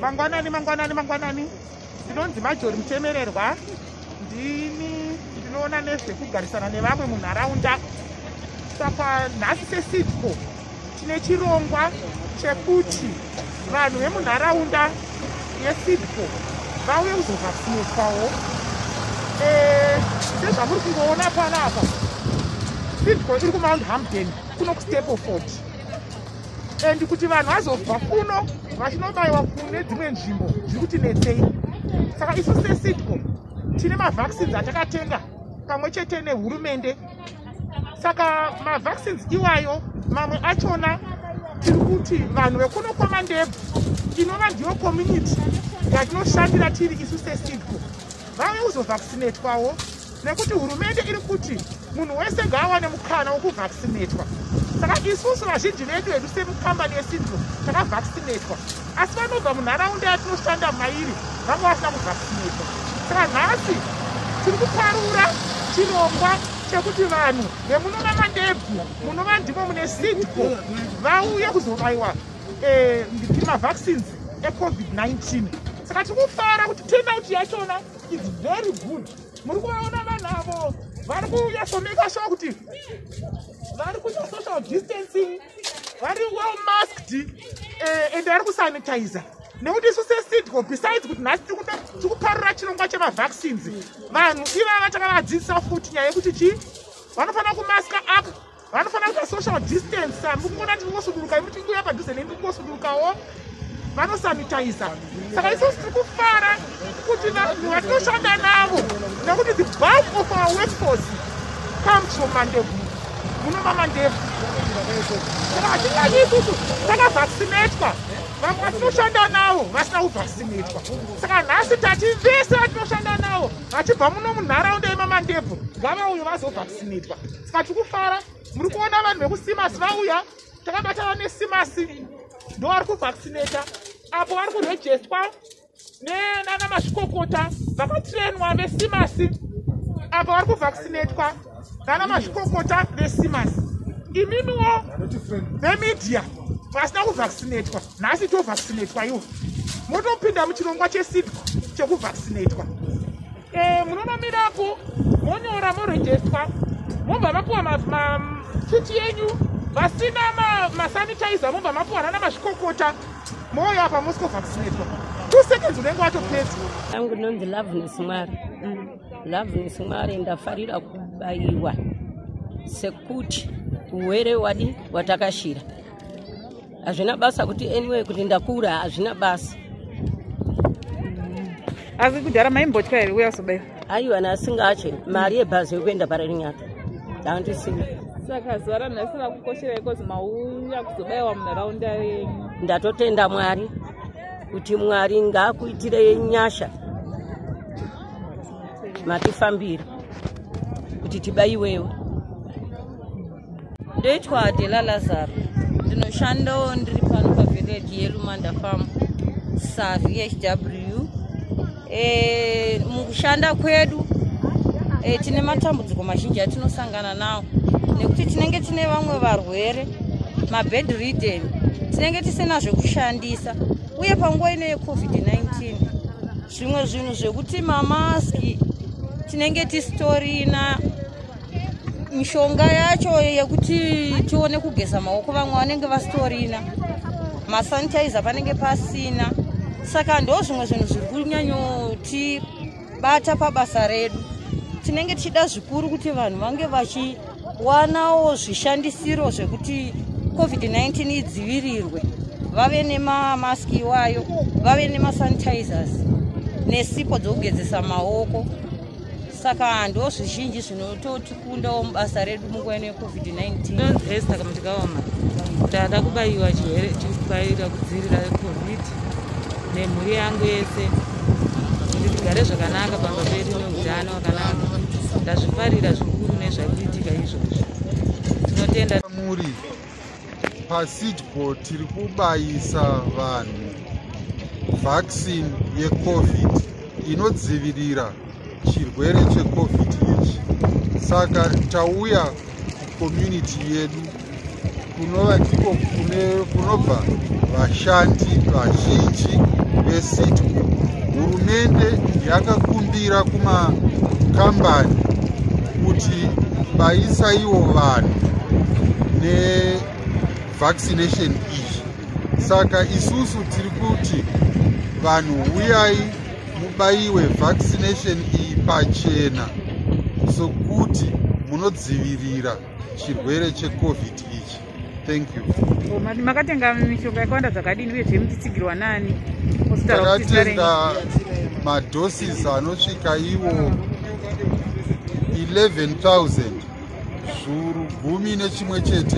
mangwanani mangwanani mangwanani ndinonzi majori mutemererwa ndini ndinoona nezvekugarisana nevamwe munharaunda saka nhasi sesidco tine chirongwa chekuti vanhu vemunharaunda yesidco vauye kuzovhaksineswawo eh, sezvamuri kungoona panapa sidco iri kumount hampton kuno kustepoford and kuti vanhu vazobva kuno vachinobayiwa kune dzimwe nzvimbo zviri kuti netsei saka isu sesidco tine mavaccines atakatenga pamwe chete nehurumende saka mavaccines iwayo mamwe achona tiri kuti vanhu vekuno kwamandebvu inova ndiyo community yatinoshandira tiri isu sesidco vave kuzovhaksinetwawo nekuti hurumende iri kuti munhu wese ngaawane mukana wokuvhaksinetwa saka isusu vazhinji vedu hedu semukambani yesindro takavhaksinetwa asi vanobva munharaunda yatinoshanda mairi vanga vasina kuvhaksinetwa saka nhasi tiri kuparura chirongwa chekuti vanhu vemuno mamandebvu munova ndimo mune sidco vauye kuzobayiwa eh, mavhaccines ecovid-19 saka tikufara kuti turnout yachona is very good muri kuvaona vanhu avo vari kunyasomeka sure kuti vari kuita social distancing vari well masked uh, and vari kusanitizer nekuti isu sesidco besides kuti nhasi tiri kuparura chirongwa chemavaccines vanhu ivava takavadzidzisa futi nyaya yekuti chii vanofanira kumaska up vanofanira kuita social distance sa mukuona tiri kungosuduruka imu tiri kuuya padhuze nemi kungosudurukawo vanosanitiza saka isusu tiri kufara kuti vanhu vatinoshanda navo nekuti the bulk of our workforce comes from mandevu muno mamandevu saka hatinyanyi isusu takavaccinatwa vamwe vatinoshanda navo vasina kuvaccinatwa saka nhasi tati vese vatinoshanda navo vachibva muno munharaunda yemamandebvu ngavauyo vazovaccinatwa Saka tikufara muri kuona vanhu vekusimasi vauya takabata vane simasi ndo vari kuvaccinata apo vari kurejestwa nenana mazvikokota vakatrenwa vesimasi apo vari kuvaccinatwa nana mazvikokota vesimasi imimiwo vemedia vasina kuvaccinatwa nhasi tovaccinatwa iwo motopinda muchirongwa chesidco chekuvaccinatwa Eh, munonomirako monyora morejestwa mobva mapiwa machiti yenyu vasina masanitizer mobva mapiwa nana mazvikokota moyo apa mosco vaccinatwa two seconds unenge watopedza angu ndinonzi loveness mwari mm. loveness mwari ndafarira kubayiwa sekuti uwere wadi watakashira hazvina basa kuti anyway kuti ndakura hazvina basa asi kudhara maimbotya here uya kuzobaiwa aiwa nasingatye mari yebhazi yokuenda pararinyata dandisina saka zuva ranhasi rakukoshera ikozi mauya kuzobaiwa munharaunda yenyu ndatotenda mwari kuti mwari ngaakuitire nyasha matifambira kuti tibaiwewo ndoitwa dela lazaro ndinoshandawo ndiri pano pavhireji yelumanda farm savhw e, mukushanda kwedu e, tine matambudziko mazhinji atinosangana nawo nekuti tinenge tine vamwe varwere mabed riden tinenge tisina zvekushandisa uye panguva ino yecovid-19 zvimwe zvinhu zvekuti mamaski tinenge tisitorina mishonga yacho yekuti tione kugeza maoko vamwe vanenge vasitorina masanitizer panenge pasina saka ndo zvimwe zvinhu zviri kunyanyotibata pabasa redu tinenge tichida zvikuru kuti vanhu vange vachiwanawo zvishandisiro zvekuti covid-19 idzivirirwe vave nemamask iwayo vave nemasanitizers nesipo dzokugezesa maoko saka ndo zvizhinji zvinototikundawo mubasa redu munguva ino yecovid-19 saka mutikaoma tava kubayiwa chirwere tikubaira kudzivirira covid nemhuri yangu yese kuti tigare zvakanaka pamba pedu neutano wakanaka ndazvifarira zvikuru nezvakuitika izvozvo tinotenda muri pasidco tiri kubayisa vanhu vaccine yecovid inodzivirira chirwere checovid ichi saka tauya kucommunity yedu kunova ndiko kunobva vashandi vazhinji vesidco hurumende yakakumbira kumakambani kuti vaisaiwo vanhu nevaccination iyi saka isusu tiri kuti vanhu huyai mubaiwe vaccination iyi pachena sokuti munodzivirira chirwere checovid ichi Thank you. Oh, makatenga mishonga yakawanda zvakadini uye zvemuchitsigirwa nani? Takatenga madoses anosvika iwo 11000 zvuru gumi nechimwe chete